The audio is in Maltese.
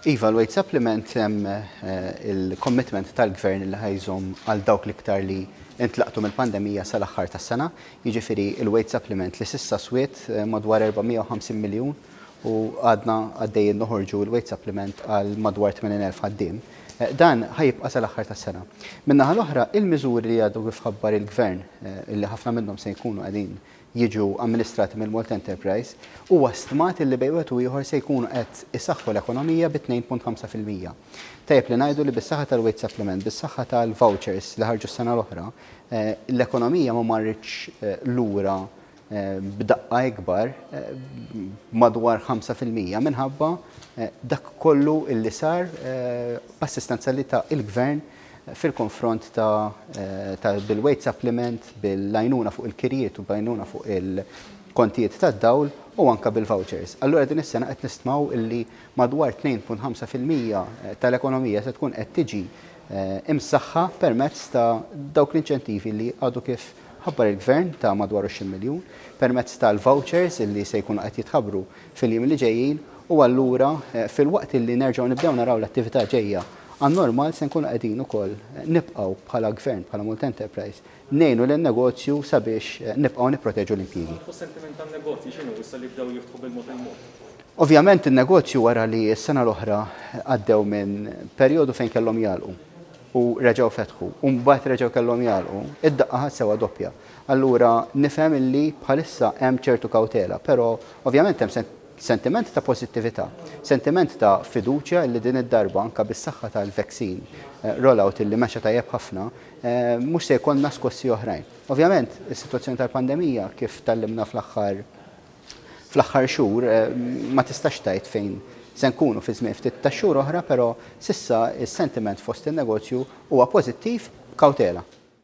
Iva, l-wage supplement hemm il-commitment tal-Gvern li ħa jżomm għal dawk l-iktar li intlaqtu mill-pandemija sal-aħħar tas-sena. Jiġifieri l-wage supplement li s'issa swiet madwar 450 miljun u għadna għaddejjin noħorġu l-wage supplement għal madwar 80,000 ħaddiem. Dan ħa jibqa' sal-aħħar tas-sena. Min-naħa l-oħra, il-miżuri li għadu kif ħabbar il-Gvern, li ħafna minnhom se jkunu qegħdin jiġu amministrati mill-Malta Enterprise, huwa stmat illi bejn wieħed u ieħor se jkunu qed isaħħu l-ekonomija bi 2.5 fil-mija. Tajjeb li ngħidu li bis-saħħa tal-Wage Supplement, bis-saħħa tal-vouchers li ħarġu s-sena l-oħra, l-ekonomija ma marritx lura b'daqqa ikbar madwar 5 fil-mija minħabba dak kollu illi sar b'assistenza li ta il-Gvern fil-konfront ta' bil-weight supplement, bil-għajnuna fuq il-kirjiet u b'għajnuna fuq il-kontijiet tad-dawl u anke bil-vouchers. Allura din is-sena qed nistmaw li madwar 2.5 fil-mija tal-ekonomija se tkun qed tiġi msaħħa permezz ta' dawk l-inċentivi li għadu kif ħabbar il-Gvern ta' madwar 20 miljun, permezz tal-vouchers li se jkunu qed jitħabbru fil-jiem li ġejjin u allura filwaqt illi nerġgħu nibdew naraw l-attività ġejja għan-normal se nkunu qegħdin ukoll nibqgħu bħala Gvern, bħala Malta Enterprise, ngħinu lin-negozju sabiex nibqgħu nipproteġu l-impjiegi. U s-sentiment tan-negozji x'inhu issa li bdew jiftħu bil-mod il-mod? Ovvjament in-negozju wara li s-sena l-oħra għaddew minn perjodu fejn kellhom jagħlqu u reġgħu fetħu u mbagħad reġgħu kellhom jagħlqu, id-daqqa ħadt sewwa doppja. Allura nifhem illi bħalissa hemm ċertu kawtela, però ovvjament hemm sentiment ta' pożittività, sentiment ta' fiduċja illi din id-darba anke bis-saħħa tal-vaccine rollout illi mexa tajjeb ħafna, mhux se jkollna skossi oħrajn. Ovvjament is-sitwazzjoni tal-pandemija kif tgħallimna fl-aħħar fl-aħħar xhur ma tistax tgħid fejn se nkunu fi żmien ftit ta' xhur oħra, però s'issa s-sentiment fost in-negozju huwa pożittiv b'kawtela.